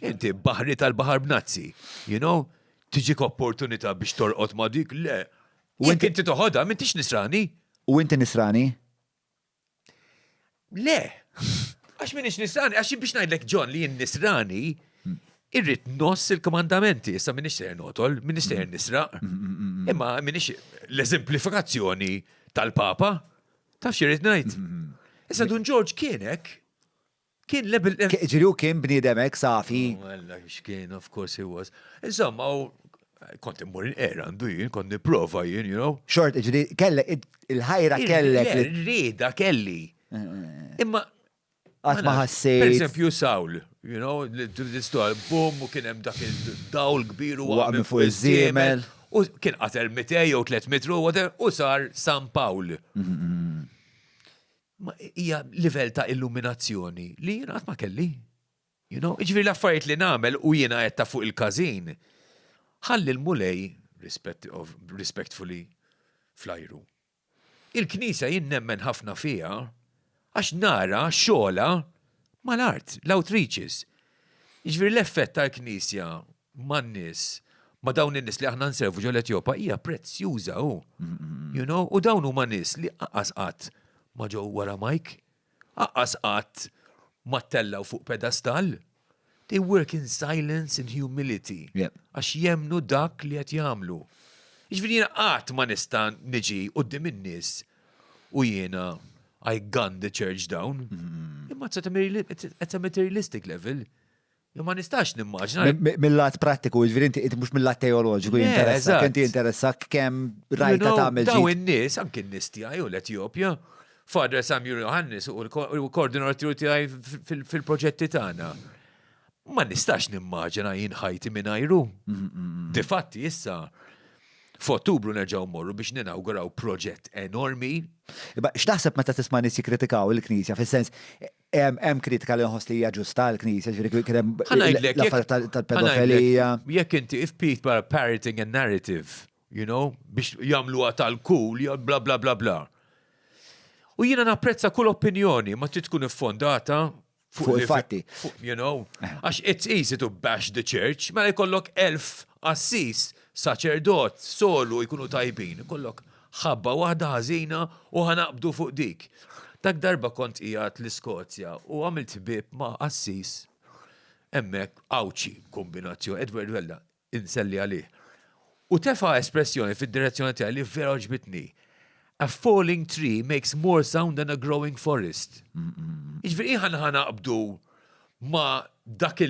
Inti baħri tal-baħar b'nazzi, you know? Tiġik opportunità biex torqod ma' dik, le. U inti inti toħodha, m'intix nisrani. U inti nisrani? Le. Għax minix nisrani, għax biex ngħidlek John li jien nisrani, irrid noss il-komandamenti, issa minix ser notol, minix ser nisraq. Imma minix l-eżemplifikazzjoni tal-Papa, taf xirrit ngħid. Issa Dun George kienek, Kien l-eb il. Jiġri hu kien bniedem hekk safi? O Alla, x'kien, of course he was. Insomma, u kont immur inqera għandu jien, kont nipprova jien, you know. Xort, jiġri kellek, il-ħajra kellek. Le, ir-rieda kelli. Imma. Qatt ma ħassejt. Per eżempju, Sawl, you know, l-istoria, bum, u kien hemm dak id-dawl kbir u waqgħet fuq iż-żiemel. U kien qatel 200 jew 300 ruħ, u sar San Pawl. Hija livell ta' illuminazzjoni li jien qatt ma kelli. You know, ġifieri l-affarijiet li nagħmel u jiena qed ta' fuq il-każin, ħalli l-Mulej, respectfully, fl-ajru. Il-Knisja jien nemmen ħafna fiha għax nara xogħolha mal-art, l-outreaches. Jiġifieri l-effett tal-Knisja man-nies, ma' dawn in-nies li aħna nservu ġol Etjopa hija prezzjuża hu. You know? U dawn huma nies li aqqas qatt ma ġew wara mike, aqqas qatt ma ttellaw fuq pedastal. They work in silence and humility. Għax jemmnu dak li qed jagħmlu. Jiġifieri jiena qatt ma nista' niġi quddiem in-nies u jiena I gun the church down. Imma it's at a materialistic level. Jew ma nistax nimmaġna. Mill-lat prattiku, jiġifieri inti inti mhux mill-lat teoloġiku Le, jinteressak, eżatt. inti jinteressak kemm You rajta know, tagħmel Daw ġid. in-nies, anki n-nies tiegħi u l-Etjopja, Father Samuel Johannes u l-ko- u l-koordinatur tiegħi f- fil- fil-proġetti tagħna. Ma nistax nimmaġina jien ħajti mingħajru. Difatti issa f'Ottubru nerġgħu mmorru biex ninawguraw proġett enormi. Imma x'taħseb meta tisma' nies jikkritikaw il-Knisja fis-sens Hemm kritika li nħoss li hija ġusta għall-Knisja, ġifieri kien hemm l-affarijiet tal-pedofilija. Jekk inti if people are parroting a narrative, you know, biex jagħmluha tal-cool, bla bla bla bla. U jiena napprezza kull opinjoni ma trid tkun iffondata fuq il-fatti. You know, eh. għax it's easy to bash the church, mela jkollok elf assis, saċerdot, solu jkunu tajbin, jkollok Ħabba waħda ħażina u ħa naqbdu fuq dik. Dak darba kont qiegħed l-Iskozja u għamilt ħbieb ma' qassis hemmhekk Għawdxi, kombinazzjoni, Edward Vella, inselli għalih. U tefa' espressjoni fid-direzzjoni tiegħi li vera għoġbitni. A falling tree makes more sound than a growing forest. Jiġifieri ħa naqbdu ma' dawk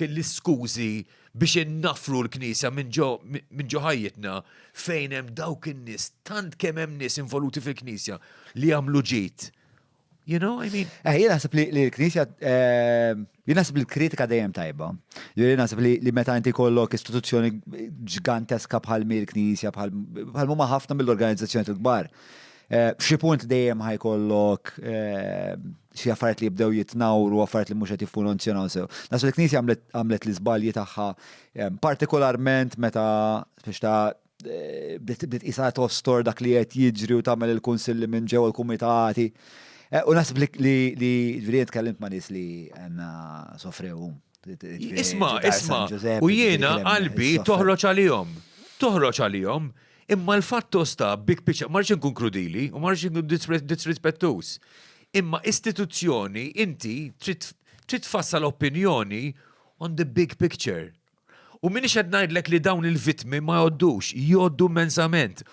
l-iskużi biex innaffru l-Knisja minn ġo ħajjitna fejn hemm dawk in-nies, tant kemm hemm nies involuti fil-Knisja li jagħmlu ġid. You know I mean? Eh, jien naħseb li l-Knisja, ehm, jien naħseb li l-kritika dejjem tajba. Jien naħseb li meta inti kollok istituzzjoni ġganteska bħal mir knisja bħal huma ħafna mill-organizzazzjoni tal-kbar. Eh, f'xi punt dejjem ħajkollok eh, xi affarijiet li jibdew jitnawru, affarijiet li mhux qed jiffunzjonaw sew. Nas il-Knisja għamlet l-iżbalji tagħha ehm, partikolarment meta biex ta' eh, bdiet isa tostor dak li qed jiġri u tagħmel il-kunsilli minn ġew il-kumitati. Eh, u naħseb li li ġifieri tkellimt ma' nies li għandna sofrew. Isma, isma, u jiena qalbi toħroġ għalihom. Toħroġ għalihom. Imma l-fatt hu sta, big picture, ma rridx inkun krudili u ma rridx inkun disrispettuż. Imma istituzzjoni inti trid trid tfassal opinjoni on the big picture. U m'iniex qed ngħidlek li dawn il-vittmi ma jgħoddux, jgħoddu immensament.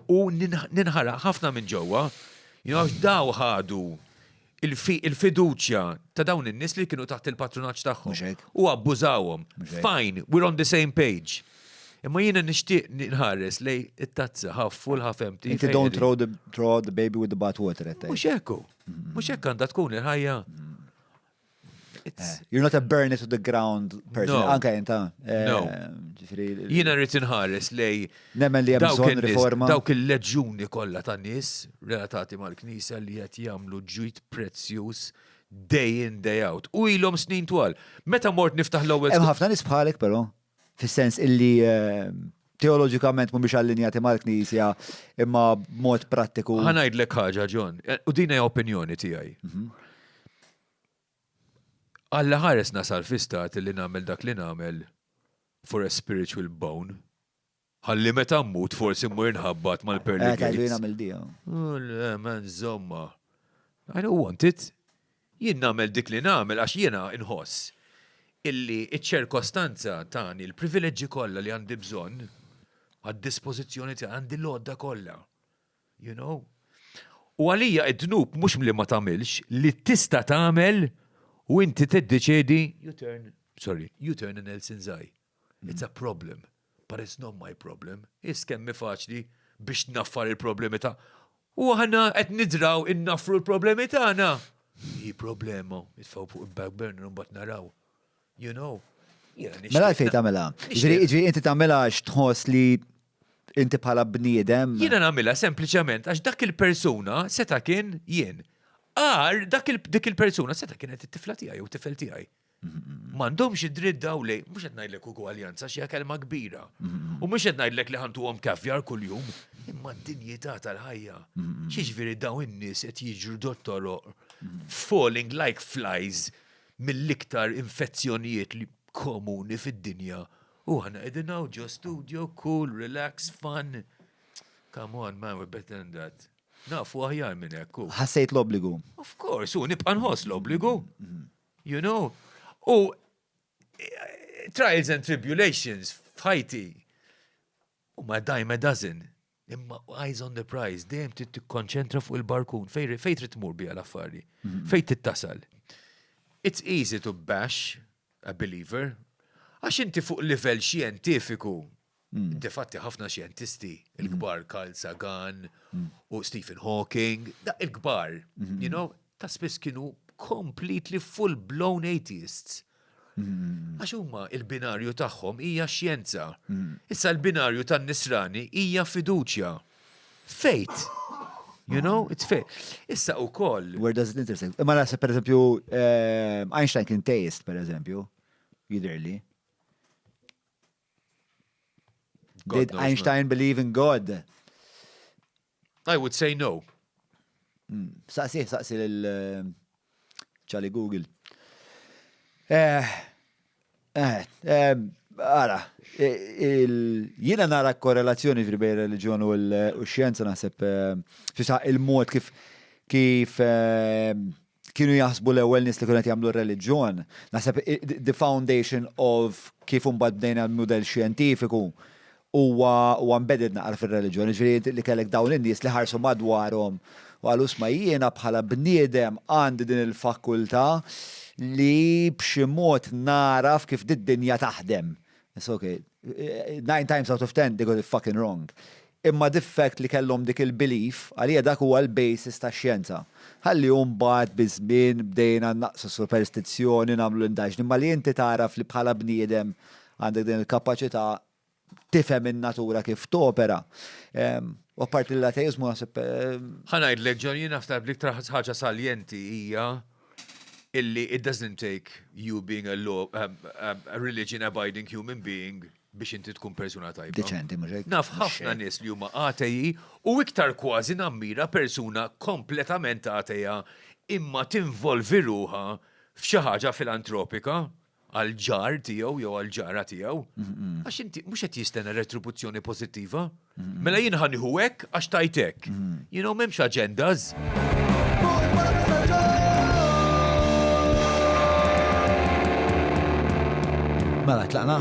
U ninħaraq ħafna minn ġewwa, you know, għax daw ħadu il-fiduċja ta' dawn in-nies li kienu taħt il-patrunaġġ tagħhom. U abbużawhom. Fine, we're on the same page. Imma jiena nixtieq nħares lej it-tazza ħaf full ħaf empty. Inti don't throw the, throw out the baby with the bath water at Mhux hekku. Mhux hekk għandha tkun il-ħajja. Eh, you're not a burn it to the ground person, anka jenta. Eh, jiena rrid inħares lej Nemmen li hemm bżonn riforma. Dawk il-leġjuni kollha ta' nies relatati mal-Knisja li qed jagħmlu ġid prezzjuż day in day out. U ilhom snin twal. Meta mort niftaħ l-ewwel. Hemm ħafna nies bħalek però, fis-sens illi eh, teoloġikament mhumiex allinjati mal-Knisja imma b'mod prattiku. Ħanajdlek ħaġa John, eh, u din hija opinjoni tiegħi. Mhm. Alla ħares nasal fi stat li nagħmel dak li nagħmel for a spiritual bone Ħalli meta mmut forsi mmur nħabbat mal-pearly gates. Tajlu jien għamil dija. Le, men zomma. I don't want it. Jien nagħmel dik li nagħmel għax jiena nħoss illi iċ-ċerkostanza tani l-privileġġi kollha li għandi bżonn għad-dispożizzjoni tiegħi għandi l-għodda kollha. You know? U għalija id-dnub mhux li ma tagħmilx li tista' tagħmel u inti tiddeċiedi you turn, sorry, you turn in Elsinzaj. It's a problem, but it's not my problem. Is kemmi faċli biex naffar il-problemi ta' u aħna qed nidraw innaffru l-problemi tagħna. Hi problema, jitfaw fuq il-back burner mbagħad naraw. You know. Mela fejn tagħmilha. Ġri inti tagħmilha għax tħoss li inti bħala bniedem. Jiena nagħmilha sempliċement għax dak il-persuna seta' kien jien. Għar dak dik il-persuna seta' kienet it-tifla tiegħi jew tifel tiegħi. M'għandhomx id-dritt daw li, mhux qed ngħidlek ugwaljanza xi kelma kbira. U mhux qed ngħidlek li ħantuhom kafjar kuljum, imma d-dinjità tal-ħajja. Xiġifieri daw in-nies qed jiġru dottoroq falling like flies mill-iktar infezzjonijiet li komuni fid-dinja u aħna qegħdin hawn ġo studio, cool, relax, fun. Come on, man, we're better than that. Nafu aħjar minn hekk. Ħassejt l-obbligu. Of course, u nibqa' nħoss l-obbligu. You know? U trials and tribulations f'ħajti u ma dime a dozen. Imma eyes on the prize, dejjem trid tikkonċentra fuq il-barkun, fej trid tmur biha l-affari, mhm. fej trid tasal. It's easy to bash a believer, għax inti fuq livell xjentifiku Difatti ħafna xjentisti, il-kbar Carl Sagan u Stephen Hawking, da il-kbar, you know, ta' spiss kienu completely full-blown atheists. Għax huma il-binarju tagħhom hija xjenza. Issa l-binarju tan-nisrani hija fiduċja. Fejt. You know, it's fair. Issa u koll. Where does it intersect? Ma nasa, per eżempju, eh, Einstein kien teist, per eżempju, jidirli. Did Einstein believe in God? I would say no. Hmm. Saqsi, saqsi l-ċali eh, Google. Eh, eh, eh Ara, jina nara korrelazzjoni fil-bej religjon u l-xjenza naħseb eh, fisa il-mod kif kif eh, kienu jaħsbu l-ewwel nies li kienu qed jagħmlu r-reliġjon. Naħseb the foundation of kif imbagħad bdejna l-mudell xjentifiku huwa huwa embedded naqra fir-reliġjon, jiġifieri li kellek dawn in-nies li ħarsu madwarhom u qalu isma' jiena bħala bniedem għandi din il-fakultà li b'xi mod nagħraf kif did-dinja taħdem. It's okay. Nine times out of ten, they got it fucking wrong. Imma the fact li kellhom dik il-belief, għalija dak huwa l-basis ta' xjenza. Ħalli mbagħad biż-żmien bdejna naqsu superstizzjoni, nagħmlu l-indaġni, ma li inti tagħraf li bħala bniedem għandek din il-kapaċità tifhem in-natura kif topera. Ehm, u apparti l-ateizmu naħseb. Eh, Ħanajd leġġor jien naħseb li iktar ħaġa saljenti hija illi it doesn't take you being a law a religion abiding human being biex inti tkun persuna tajba. Deċenti, mhux hekk? Naf ħafna nies li huma ateji u iktar kważi nammira persuna kompletament ateja imma tinvolvi ruħha f'xi ħaġa filantropika. għal ġar tiegħu jew għal ġara tiegħu. Għax inti mhux qed jistenna retribuzzjoni pożittiva. Mela jien ħaniħu hekk għax tajtek. You know m'hemmx agendas. Mela tlaqna.